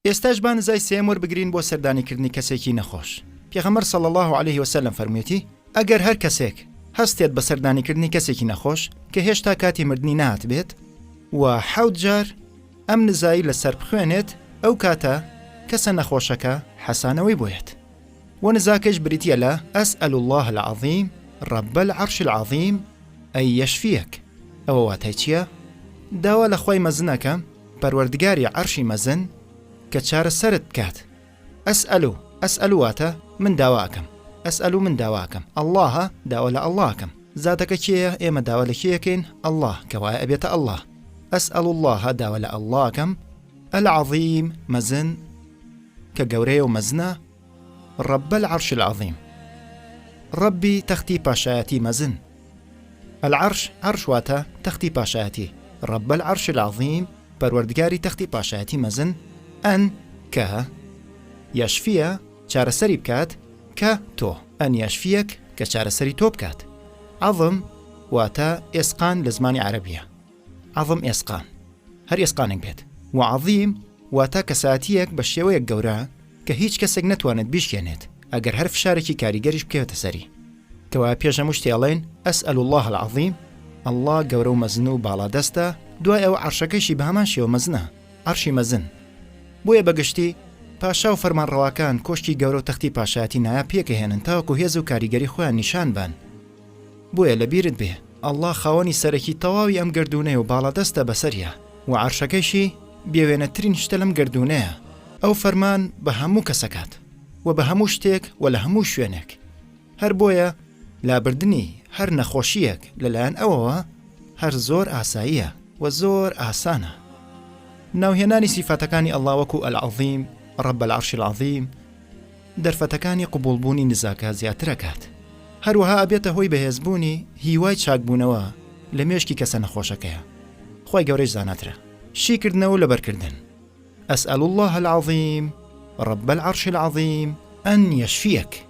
ئێستاش با نزای سێم وەربگرین بۆ سەردانیکردنی کەسێکی نەخۆش پێغەمەر سەڵ الله عليه وسلم فەرموێتی ئەگەر هەر کەسێک هەستێت بە سەردانیکردنی کەسێکی نەخۆش کە هێشتا کاتی مردنی نات بێت و حەوت جار ئەم نزایی لەسەر بخوێنێت ئەو کاتە کەسە نەخۆشەکە حەسانەوەی بۆیێت و نزاکەش بریتیە لە، اسأل اللە العظیم رب العرش العظیم ان یشفیک، ئەوە واتای چیە؟ داوا لە خوای مەزن ئەکەم، پەروەردگاری عەرشی مەزن، کە چارەسەرت بکات. اسأل، اسأل واتە، من داوا ئەکەم. اسأل من داوا ئەکەم. اللە، داوا لە اللە ئەکەم. زاتەکە کێیە؟ ئێمە داوا لە کێ ئەکەین؟ اللە، کەوایە ئەبێتە اللە. اسأل اللە، داوا لە اللە ئەکەم، العظیم، مەزن، کە گەورەیە و مەزنە، رب العرش العظیم، رەبی تەختی پاشایەتی مەزن، العرش، عەرش واتە تەختی پاشایەتی، رب العرش العظیم، پەروەردگاری تەختی پاشایەتی مەزن، ان، کە، یشفیە، چارەسەری بکات، کە، تۆ، ان یشفیەک، کە چارەسەری تۆ بکات، عظم، واتە ئێسقان لە زمانی عەرەبییە. عەظم ئێسقان، هەر ئێسقانێک بێت، و عەظیم واتە کەسایەتییەک بە شێوەیەک گەورە کە هیچ کەسێک نەتوانێت بیشکێنێت ئەگەر هەر فشارێکی کاریگەریش بکەوێتە سەری. کەوایە پێش هەموو شتێ ئەڵێن، اسأل اللە العظیم، اللە گەورە و مەزن و باڵادەستە، دوای ئەوە عەرشەکەیشی بە هەمان شێوە مەزنە، عەرشی مەزن. بۆیە بە گشتی پاشا و فەرمانڕەواکان کۆشکی گەورە و تەختی پاشایەتی نایاب پێکئەهێنن تاوەکو هێز و کاریگەری خۆیان نیشان بان. بۆیە لە بیرت بێ اللە خاوەنی سەرەکی تەواوی ئەم گەردوونەیە و باڵادەستە بەسەریا وە عەرشەکەیشی بێوێنەترین شتە لەم گەردوونەیە ئەو فەرمان بە هەموو کەس ئەکات وە بە هەموو شتێک وە لە هەموو شوێنێک هەر بۆیە لابردنی هەر نەخۆشییەک لە لایەن ئەوەوە هەر زۆر ئاساییە وە زۆر ئاسانە ناوهێنانی سیفاتەکانی اللە وەکو العظیم رب العرش العظیم، دەرفەتەکانی قبوڵبوونی نزاکە زیاترەکات، هەروەها ئەبێتە هۆی بەهێزبوونی هیوای چاکبوونەوە لە مێشکی کەسە نەخۆشەکەیا، خوای گەورەیش زاناترە. شیکردنەوە و لەبەرکردن، اسأل اللە العظیم رب العرش العظیم ان یشفیک.